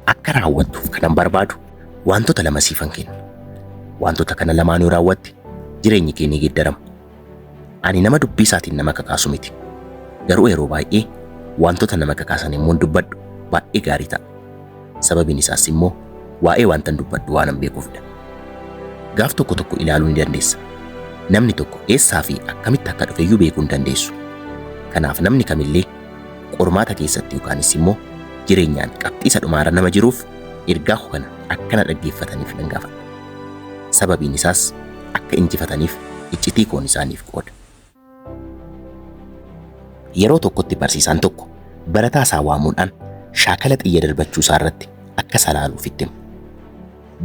Akka raawwattuuf kanan barbaadu wantoota lama siifan kenna. Wantoota kana lamaan yoo raawwatte jireenyi kee ni geeddarama. Ani nama dubbii isaatiin nama kakaasu miti. Garuu yeroo baay'ee wantoota nama kakaasan immoo dubbadhu baay'ee gaarii ta'a. Sababiin isaas immoo waa'ee wantan dubbadhu waanan beekuufidha. Gaaf tokko tokko ilaaluu ni dandeessa. Namni tokko eessaa fi akkamitti akka dhufe iyyuu beekuu hin dandeessu. Kanaaf namni kamillee Qormaata keessatti yookaanis immoo jireenyaan qabxii isa dhumaarra nama jiruuf ergaa koo kana akka na dhaggeeffataniif nan gaafadha. Sababiin isaas akka injifataniif iccitii koon isaaniif qooda. Yeroo tokkotti barsiisaan tokko barataa isaa waamuudhaan shaakala xiyya darbachuu isaa irratti akka isa ilaaluuf itti hima.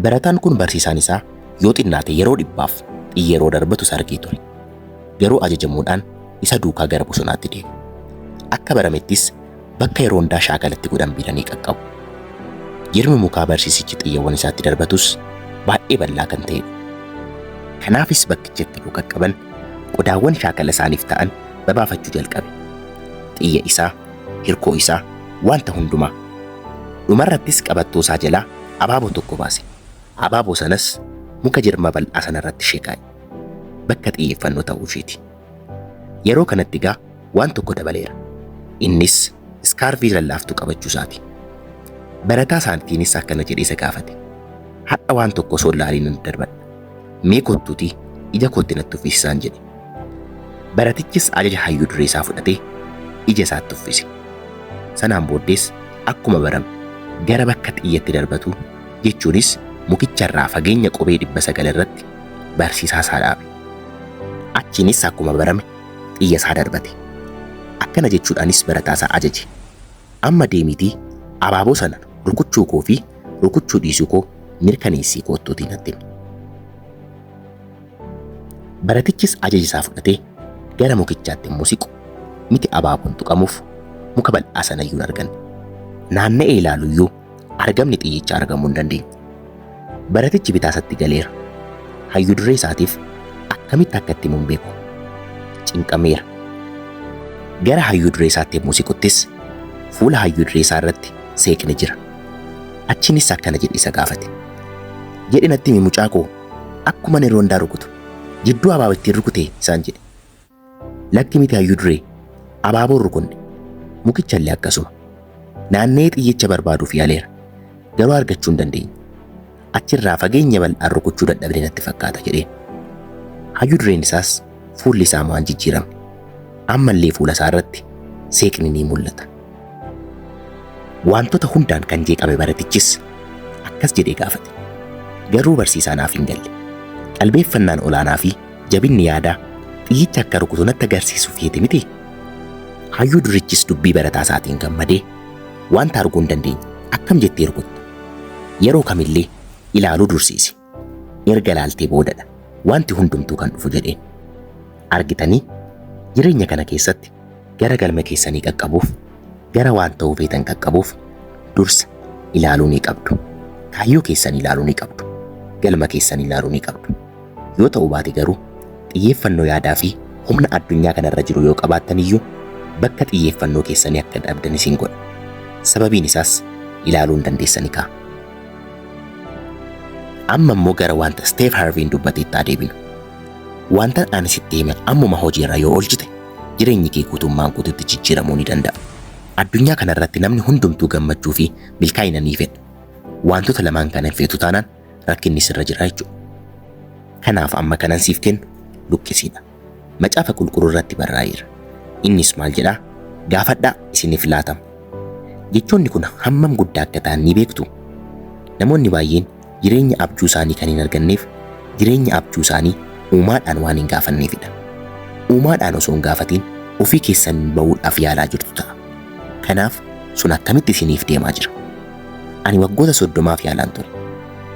Barataan kun barsiisaan isaa yoo xinnaate yeroo dhibbaaf xiyyeroo darbatus argee ture. Garuu ajajamuudhaan isa duukaa gara bosonaatti deeme. Akka baramettis bakka yeroo hundaa shaakala itti godhan biilanii qaqqabu. Jirmi mukaa barsiisichi xiyyewwan isaatti darbatus baay'ee bal'aa kan ta'edha. Kanaafis bakkicha itti yoo qaqqaban qodaawwan shaakala isaaniif ta'an babaafachuu jalqabe. Xiyya isaa hirkoo isaa, wanta hundumaa. Dhumarrattis qabattoosaa jalaa abaaboo tokko baase. Abaaboo sanas muka jirma bal'aa sanarratti ishee kaa'e. Bakka xiyyeeffannoo ta'uu isheeti. Yeroo kanatti egaa waan tokko dabaleera. Innis iskaarvii lallaaftuu qabachuu isaati. Barataa isaatiinis akkana jedhee isa gaafate. Har'a waan tokko osoo hin laaliin nan darbadha. Mee kottuuti ija kootti natti uffisi isaan jedhe. Baratichis ajaja hayyuu duree isaa fudhatee ija isaatti uffise. Sanaan booddees akkuma barame gara bakka xiyyatti darbatu jechuunis mukicharraa fageenya qubee dhibba sagal irratti barsiisaa isaa dhaabe. Achiinis akkuma barame xiyya isaa darbate. Akkana jechuudhaanis barataa isaa ajaje. Amma deemiitii abaaboo sana rukuchuu koo fi rukuchuu dhiisuu koo mirkaneessii koottuutii natti himi. Baratichis ajaja isaa fudhatee gara mukichaatti immoo siqu miti abaaboon tuqamuuf muka bal'aa sana iyyuu hin arganne. Naanna'ee ilaalu iyyuu Argamni xiyyicha argamuu hin dandeenye. Baratichi bitaa isatti galeera. Hayyu duree isaatiif akkamitti akka itti himu hin beeku. Cinqameera. Gara hayyu duree isaatti yommuu siquttis fuula hayyu duree isaa irratti seeqni jira. Achiinis akkana jedhee isa gaafate. Jedhi natti himi mucaa koo akkuma ani roondaa rukutu jidduu abaaba ittiin rukute isaan jedhe. Lakki miti hayyuu duree. Abaaboo hin rukunne. Mukichallee akkasuma. Naanna'ee xiyyicha barbaaduuf yaaleera. Garuu argachuu hin dandeenye. Achirraa fageenya bal'aan rukuchuu dadhabne natti fakkaata jedheen. Hayyuu dureen isaas fuulli isaa waan jijjiiramne. Ammallee fuula isaa irratti seeqni ni mul'ata. Wantoota hundaan kan jeeqame baratichis akkas jedhee gaafate. Garuu barsiisaa naaf hin galle. Qalbeeffannaan olaanaa fi Jabinni yaada, xiyyicha akka rukutu natti agarsiisuu feete mitii? Hayyuu durichis dubbii barataa isaatiin gammadee, Wanta arguu hin dandeenye akkam jettee rukutta? Yeroo kamillee ilaaluu dursiisi. Erga ilaaltee boodadha wanti hundumtuu kan dhufu jedheen. Argitanii? Jireenya kana keessatti gara galma keessanii qaqqabuuf, gara waan ta'uu feetan qaqqabuuf dursa ilaaluu ni qabdu. Kaayyoo keessan ilaaluu ni qabdu. Galma keessan ilaaluu ni qabdu. Yoo ta'uu baate garuu xiyyeeffannoo yaadaa fi humna addunyaa kana irra jiru yoo qabaattan iyyuu bakka xiyyeeffannoo keessanii akka dhabdan isin godha. Sababiin isaas ilaaluu hin dandeessani kaa. Amma immoo gara wanta Steef Harviin dubbateetti haa deebinu. Wanta ani sitti hime ammuma hojiirra yoo oolchite jireenyi kee guutummaan guututti jijjiiramuu ni danda'a. Addunyaa kana irratti namni hundumtuu gammachuu fi milkaa'ina ni fedha. Wantoota lamaan kana hin feetu taanaan rakkinni sirra jira jechuudha. Kanaaf amma kanan siif kennu luqqisiidha. Macaafa qulqulluu irratti barraa'eera. Innis maal jedhaa? Gaafadhaa isiniif laatama. Jechoonni kun hammam guddaa akka ta'an ni beektu? Namoonni baay'een jireenya abjuu isaanii kan hin arganneef jireenya abjuu isaanii uumaadhaan waan hin gaafanneefidha. Uumaadhaan osoo hin gaafatiin ofii keessan ba'uudhaaf yaalaa jirtu ta'a. Kanaaf sun akkamitti isiniif deemaa jira? Ani waggoota soddomaaf yaalaan ture.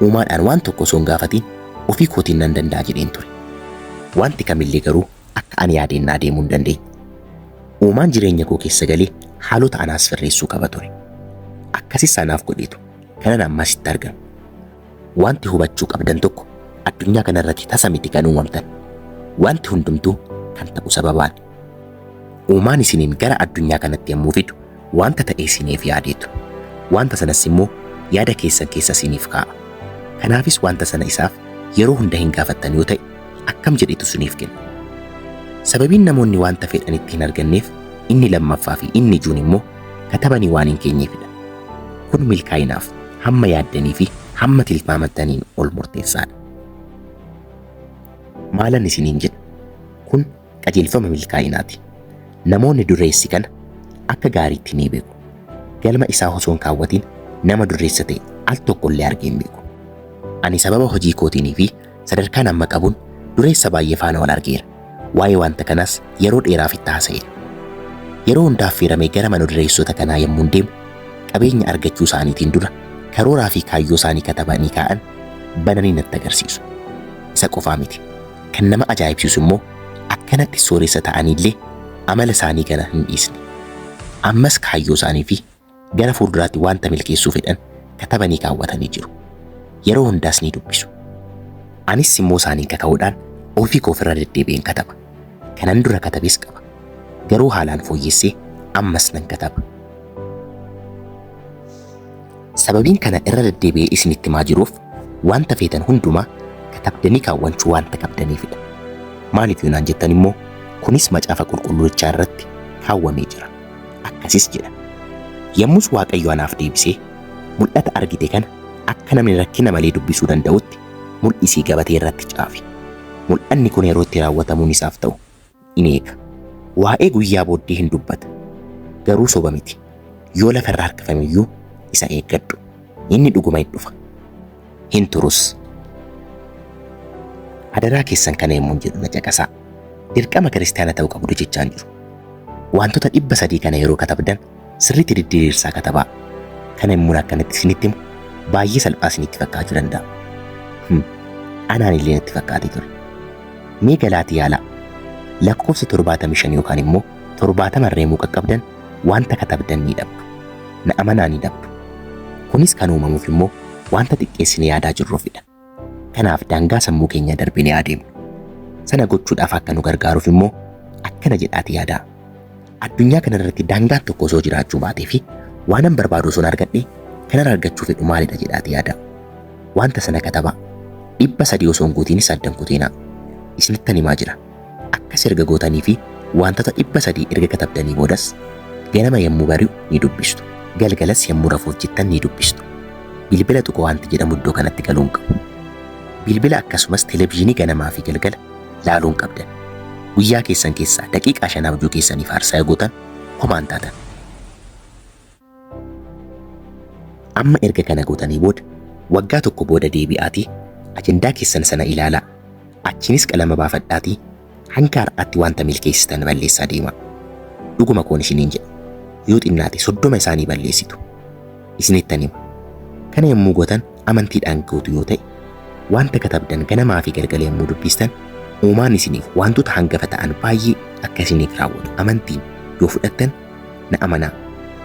Uumaadhaan waan tokko osoo hin gaafatiin ofii kootiin nan danda'a jedheen ture. Wanti kamillee garuu akka ani yaadeen naa deemuu hin dandeenye. Uumaan jireenya koo keessa galee haalota anaa sirreessuu qaba ture. Akkasis anaaf godheetu kanan ammaa sitti argamu. Wanti hubachuu qabdan tokko addunyaa kana irratti tasa miti kan uumamtan. Wanti hundumtuu kan ta'u sababaan. Uumaan isiniin gara addunyaa kanatti yommuu fidu wanta ta'e isiniif yaadeetu. Wanta sanas immoo yaada keessan keessa isiniif kaa'a. Kanaafis wanta sana isaaf yeroo hunda hin gaafattan yoo ta'e akkam jedhetu isiniif kenna. Sababiin namoonni wanta fedhan itti hin arganneef inni lammaffaa fi inni ijoon immoo katabanii waan hin keenyeefidha. Kun milkaa'inaaf hamma yaaddanii fi hamma tilmaamattaniin ol murteessaadha. Maalan isiniin jedha? Kun qajeelfama milkaa'inaati. Namoonni dureessi kana akka gaariitti ni beeku. Galma isaa osoo hin kaawwatiin nama dureessa ta'e al tokko illee argee hin beeku. Ani sababa hojii kootiinii fi Sadarkaan amma qabun dureessa baay'ee faana wal argeera. Waa'ee wanta kanaas yeroo dheeraaf itti haasa'eera. Yeroo hunda affeeramee gara mana dureessota kanaa yommuun deemu qabeenya argachuu isaaniitiin dura karooraa fi kaayyoo isaanii katabanii kaa'an bananii natti agarsiisu. Isa qofaa miti. Kan nama ajaa'ibsiisu immoo akkanatti sooressa ta'aniillee amala isaanii kana hin dhiisne. Ammas kaayyoo isaanii fi Gara fuulduraatti wanta milkeessuu fedhan katabanii kaawwatanii jiru. Yeroo hundaas ni dubbisu. Anis immoo isaaniin kaka'uudhaan ofii koof irra deddeebi'een kataba. Kanan dura katabes qaba. Garuu haalaan fooyyessee ammas nan kataba. Sababiin kana irra deddeebi'ee isinitti himaa jiruuf wanta feetan hundumaa katabdanii kaawwachuu wanta qabdaniifidha. Maaliif yoo naan jettan immoo kunis macaafa qulqulluuchaa irratti kaawwamee jira. Akkasis jedha. Yommus Waaqayyo anaaf deebisee, Mul'ata argite kana akka namni rakkina malee dubbisuu danda'utti mul'isii gabatee irratti caafi. Mul'anni kun yeroo itti raawwatamuun isaaf ta'u in eega. Waa'ee guyyaa booddee in dubbata, garuu soba miti. Yoo lafa irra harkifame iyyuu isa eeggadhu. Inni dhuguma in dhufa. Hin turus. Adaraa keessan kana yommuun jedhu na caqasaa. Dirqama kiristaana ta'uu qabdu jechaan jiru. Wantoota dhibba sadii kana yeroo katabdan sirriitti diddiiriirsaa katabaa. Kana yommuun akkanatti isinitti himu baay'ee salphaa isinitti fakkaachuu danda'a. Hmm. Anaan illee natti fakkaatee ture. Mee galaati yaalaa. Lakkoofsa torbaatamii shan yookaan immoo torbaatama irra yemmuu qaqqabdan Wanta katabdan ni dhabdu. Na amanaa ni dhabdu. Kunis kan uumamuuf immoo wanta xiqqeessine yaadaa jirruufidha. Kanaaf daangaa sammuu keenyaa darbine haa deemnu. Sana gochuudhaaf akka nu gargaaruuf immoo akkana jedhaati yaadaa. Addunyaa kana irratti daangaan tokko osoo jiraachuu baatee fi waanan barbaadu osoon argadhe kanan argachuu fedhu maalidha jedhaati yaadaa. Wanta sana katabaa. Dhibba sadii osoon guutiinis addan kuteenaa. Isinittan himaa jira. Akkas erga gootanii fi waantota 300 erga katabdanii boodas, ganama yommuu bari'u ni dubbistu. Galgalas yommuu rafuuf jettan ni dubbistu. Bilbila tuquu waanti jedhamu iddoo kanatti galuu hin qabu. Bilbila akkasumas televizyiinii ganamaa fi galgala laaluu hin qabdan. Guyyaa keessan keessaa daqiiqaa shan abjuu keessaniif aarsaa yoo gootan homaa hin taatan. Amma erga kana gootanii booda waggaa tokko booda deebi'aatii ajandaa keessan sana ilaalaa. Achiinis qalama baafadhaatii hanga har'aatti wanta milkeessitan balleessaa deemaa. Dhuguma koon isiniin jedha. Yoo xinnaate soddoma isaanii balleessitu. Isinittan hima. Kana yommuu gootan amantiidhaan gootu yoo ta'e wanta katabdan ganamaa fi galgala yommuu dubbistan uumaan isiniif wantoota hangafa ta'an baay'ee akka isiniif raawwatu amantiin yoo fudhattan Na amanaa,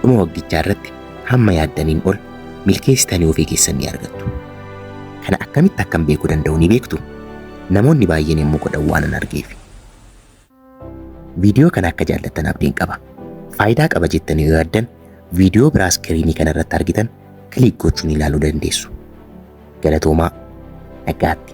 dhuma waggichaa irratti hamma yaaddaniin ol milkeessitanii ofii keessan ni argattu. Kana akkamitti akkan beekuu danda'u ni beektu? Namoonni baay'een yommuu godhan waanan argeef. Viidiyoo kana akka jaallattan abdiin qaba. Faayidaa qaba jettanii yoo yaaddan viidiyoo biraa iskiriinii kana irratti argitan kiliik gochuun ilaaluu dandeessu. Galatoomaa nagaatti.